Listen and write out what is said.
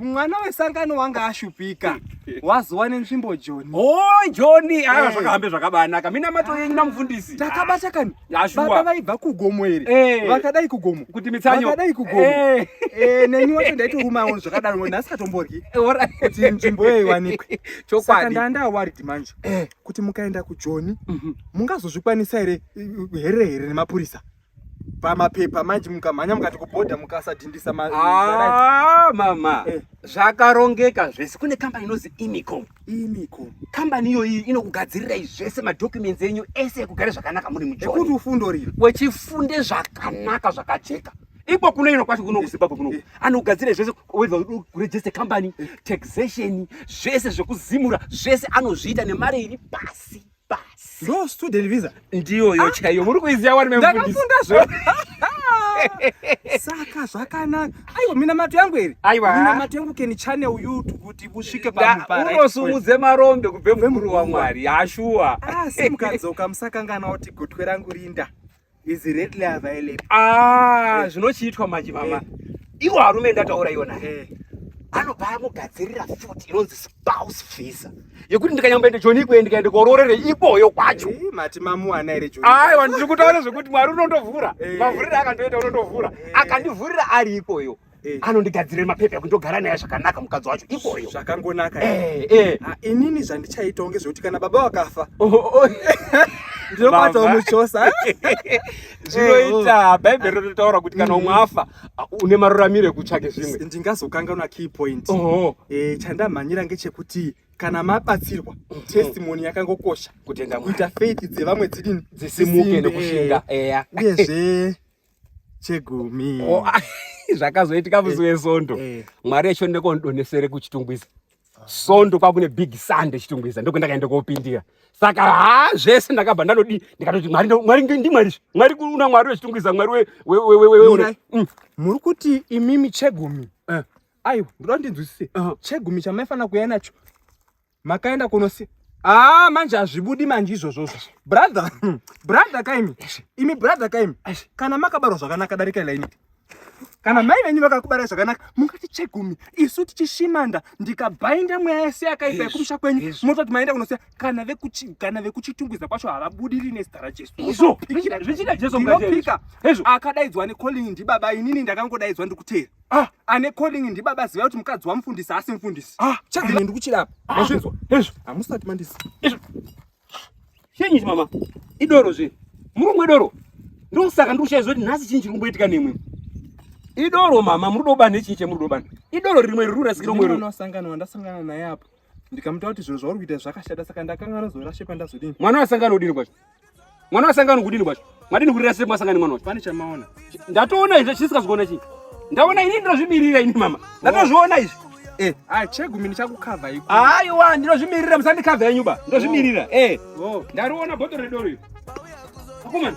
mwana wesangano wanga ashupika wazowa nenzvimbo joni o oh, joni aa ah, eh. zvakahambe zvakabanaka minamato yenyu namufundisi takabata kani baba vaibva kugomo iri eh. vakadai kugomo kuti mitsanyovakadai kugomo eh. neni wacho ndaitorumawo zvakadaro nhasi katomboryi kuti nzvimbo iyo iwanikwe chokwadi ndaa ndawarid manje kuti mukaenda kujoni mhm. mungazozvikwanisa here here here nemapurisa pamapepa manje mukamhanya mukati kubhodha mukasadhindisa ma ah, mama eh. zvakarongeka zvese kune kambani inonzi imicom imicom kambani iyoyi inokugadzirirai zvese madocuments enyu ese ekugare zvakanaka muri mujokuti ufundo riri wechifunde zvakanaka zvakajeka iko kuno ino kwacho kuno kuzimbabwe kuno eh. anogadzira zvese whether kuregister company eh. taxation zvese zvekuzimura zvese anozviita nemari iri pasi basi ndo student visa ndiyoyo ah. chaiyo muri kuiziva wani ndakafunda zvo saka zvakanaka aiwa minamato yangu iri aiwa minamato yangu keni channel youtube kuti busvike paunosumudze marombe kubve mukuru wamwari hashuwa asi ah, mukadzoka musakangana kuti gotwe rangu rinda is readily available ah eh. zvinochiitwa manje mama eh. iwo arume ndataura iwona eh. anobva amugadzirira futi inonzi spouse visa yekuti ndikanyamboenda joni ikwe ndikaenda kororere iboyo kwacho mati mamuwana here joni aiwa ndiri kutaura zvekuti mwari unondovhura mavhurira akandoita unondovhura akandivhurira ari ikweyo Eh. anondigadzirira mapepa ekuti ndogara naye zvakanaka mukadzi wacho ikoyo zvakangonaka eh, eh. Ah, inini zvandichaita unge zvekuti kana baba wakafa oh, oh, oh. ndinokwatawo muchosa zvinoita bhaibheri rinotaura kuti kana umwe mm. afa ah, une maruramiro ekutsvake zvimwe ndingazokanganwa key point chandamhanyira ngechekuti kana mabatsirwa mm. testimony yakangokosha kuita faith dzevamwe dzidini dzisimuke nekushinga uyezve chegumi oh, ah, zvakazoitika musi eh, wesondo eh. mwari echo ndekondonhesere kuchitungwiza sondo kwakune big sunday chitungwiza ndoko ndakaenda kopindira saka ha zvese ndakabva ndanodii ndikatoti mwari mwari ndimwari mwari una mwari wechitungwiza mwari wewewewe mm. muri kuti imimi chegumi eh. aiwa ndoda ndinzwisise chegumi chamaifanira kuya nacho makaenda kunosi Ah, manje hazvibudi manje izvozvo zvo. Brother, brother kaimi. Imi brother kaimi. Kana makabarwa zvakanaka darika ila ini. Kana mai venyu vakakubara zvakanaka, mungati chegumi. Isu tichishimanda ndikabainda mweya yese yakaipa yekumusha kwenyu. Mototi maenda kunosiya kana vekuchi kana vekuchitungwiza kwacho havabudiri nezita raJesu. Izvo zvichida Jesu mukati. Akadaidzwa ne calling ndibaba inini ndakangodaidzwa ndikuteera. Ah, ane calling ndibaba ziva kuti mukadzi wamufundisi asi mfundisi. Ah, chakadini ndikuchira apa. Ah. Mazvinzwa. Hezvo. Hamusati mandisi. Hezvo. Chenyi mama. Idoro zve. Murungu idoro. Ndosaka ndikushaidzwa kuti nhasi chinyi chiri kumboitika nemwe. Idoro mama, muri dobana nechinyi chemuri dobana. Idoro rimwe riri kurasikira umwe. Ndosangana wandasangana naye apo. ndikamuta kuti zvinhu zvauri kuita zvakashata saka ndakanga nozora shepa ndazodini mwana wasangana udini kwacho mwana wasangana kudini kwacho madini kurira sepa wasangana mwana wacho pane chamaona ndatoona izvi chisikazoona chii ndaona ini ndinozvimirira ini mama ndatozviona izvi eh. ah, chegumi ndichakukavha iko aiwa ndinozvimirira musandikavha yenyu ba ndozvimirira oh. eh. oh. ndariona bhoto redoro iri akomana